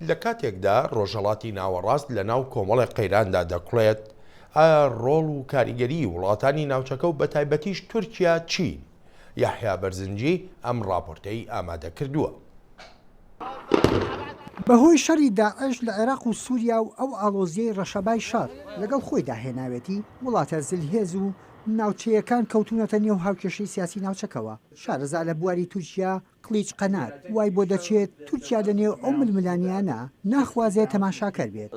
لە کاتێکدا ڕۆژهەڵاتی ناوەڕاست لە ناو کۆمەڵی قەیراندا دەکڵێت، ئایا ڕۆڵ و کاریگەری وڵاتانی ناوچەکە و بەتایبەتیش تورکیا چین؟ یەحیا بەرزنجی ئەم ڕاپۆرتەی ئامادە کردووە. بەهۆی شەڕی داعش لە عێراق و سووریا و ئەو ئاڵۆزییەی ڕەشەبای شەڕ لەگەڵ خۆیدا هێناوێتی، وڵاتە زلهێز و ناوچەیەکان کەوتوونەتە نێو هاوکێشەی سیاسی ناوچەکەوە. شارەزا لە بواری تورکیا قلیچ قەنات وای بۆ دەچێت تورکیا لە نێو ئەو ململانێیانە ناخوازێت تەماشاکەر بێت.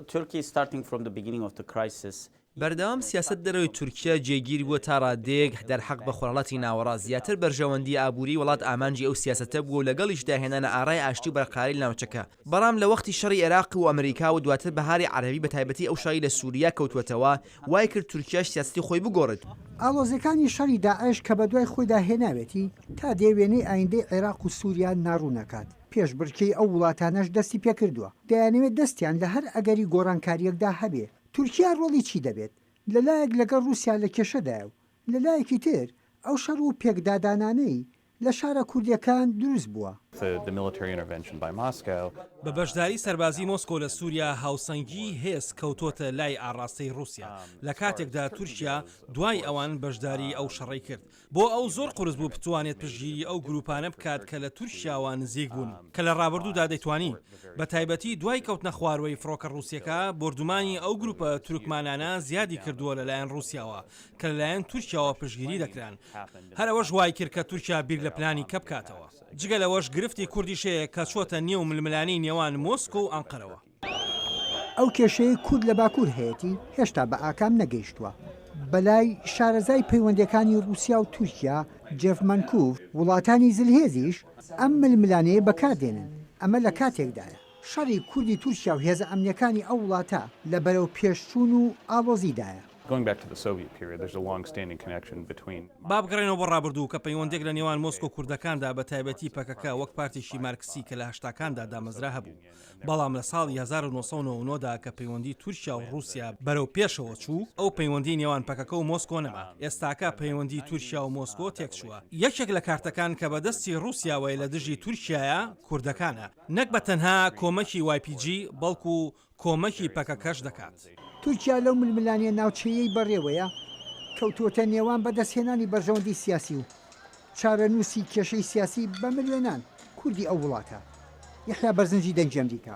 بەردەوام سیاسەت دەرەوەی تورکیا جێگیر بووە تا ڕادەیەک دەرحەق بە خۆرهەڵاتی ناوەڕاست زیاتر بەرژەوەندی ئابووریی وڵات ئامانجی ئەو سیاسەتە بووە و لەگەڵیشدا هێنانە ئارای ئاشتی و بەرقەراری لە ناوچەکە بەڵام لە وەختی شەڕی ئێراق و ئەمریکا و دواتر بەهاری عەرەبی بە تایبەتی ئەو شەڕی لە سوریا کەوتووەتەوە وای کرد تورکیاش سیاسەتی خۆی بگۆڕێت. ئاڵۆزیەکانی شەڕی داعش کە بە دوای خۆیدا هێناوێتی، تا دێ وێنەی ئایندەی عێراق و سوریا ناڕوون ئەکات، پێشبڕکێی ئەو وڵاتانەش دەستی پێکردووە، دەیانەوێت دەستیان لە هەر ئەگەری گۆڕانکاریەکدا هەبێ. تورکیا ڕۆڵی چی دەبێت؟ لە لایەک لەگەڵ ڕوسیا لە کێشەدایە و لە لایەکی تر ئەو شەڕ و پێکدادانانەی، لە شارە کوردیەکان دروست بووە. بە بەشداری سەربازی مۆسکۆ لە سوریا هاوسەنگی هێز کەوتۆتە لای ئاڕاستەی ڕوسیا لە کاتێکدا تورکیا دوای ئەوان بەشداری ئەو شەڕەی کرد بۆ ئەو زۆر قورس بوو بتوانێت پشگیری ئەو گروپانە بکات کە لە تورکیاوە نزیک بوون کە لە ڕابردوودا دەیتوانی بە تایبەتی دوای کەوتنە خواروەی فڕۆکە ڕوسیەکە بۆردومانی ئەو گروپە تورکمانانە زیادی کردووە لە لایەن ڕوسیاوە کە لەلایەن تورکیاوە پشتگیری دەکران، هەر ئەوەش وایکرد کە تورکیا بیر لە پلانی کە بکاتەوە. جگە لەوەش گرفتی کوردیش هەیە کە چۆتە نێو ململانێی نێوان مۆسکۆ و ئەنقەرەوە. ئەو کێشەیەی کورد لە باکوور هەیەتی هێشتا بە ئاکام نەگەیشتووە. بەلای شارەزای پەیوەندییەکانی ڕووسیا و تورکیا، جێف مەنکوف، وڵاتانی زلهێزیش ئەم ململانێیە بەکاردێنن، ئەمە لە کاتێکدایە، شەڕی کوردی تورکیا و هێزە ئەمنییەکانی ئەو وڵاتە لە بەرەوپێشچوون و ئاڵۆزیدایە. با بگەڕێینەوە بۆ ڕابردوو کە پەیوەندییەک لە نێوان مۆسکۆ و کوردەکاندا بە تایبەتی پەکەکە وەک پارتێکی مارکسی کە لە هەشتاکاندا دامەزرا هەبوو بەڵام لە ساڵی هەزار و نۆ سەد و نەوەد و نۆ دا کە پەیوەندی تورکیا و ڕووسیا بەرەو پێشەوە چوو ئەو پەیوەندی نێوان پەکەکە و مۆسکۆ نەما ئێستاکە پەیوەندی تورکیا و مۆسکۆ تێکچووە یەکێک لە کارتەکان کە بە دەستی ڕووسیاوەیە لە دژی تورکیایە کوردەکانە. نەک بە تەنها کۆمەکی وای پی جی، بەڵکو کۆمەکی پەکەکەش دەکات. تورکیا لەو ململانێ ناوچەیەی بەڕێوەیە کەوتووەتە نێوان بەدەستهێنانی بەرژەوەندی سیاسی و چارەنووسی کێشەی سیاسی بە ملیۆنان کوردی ئەو وڵاتە، یەحیا بەرزنجی دەنگی ئەمریکا.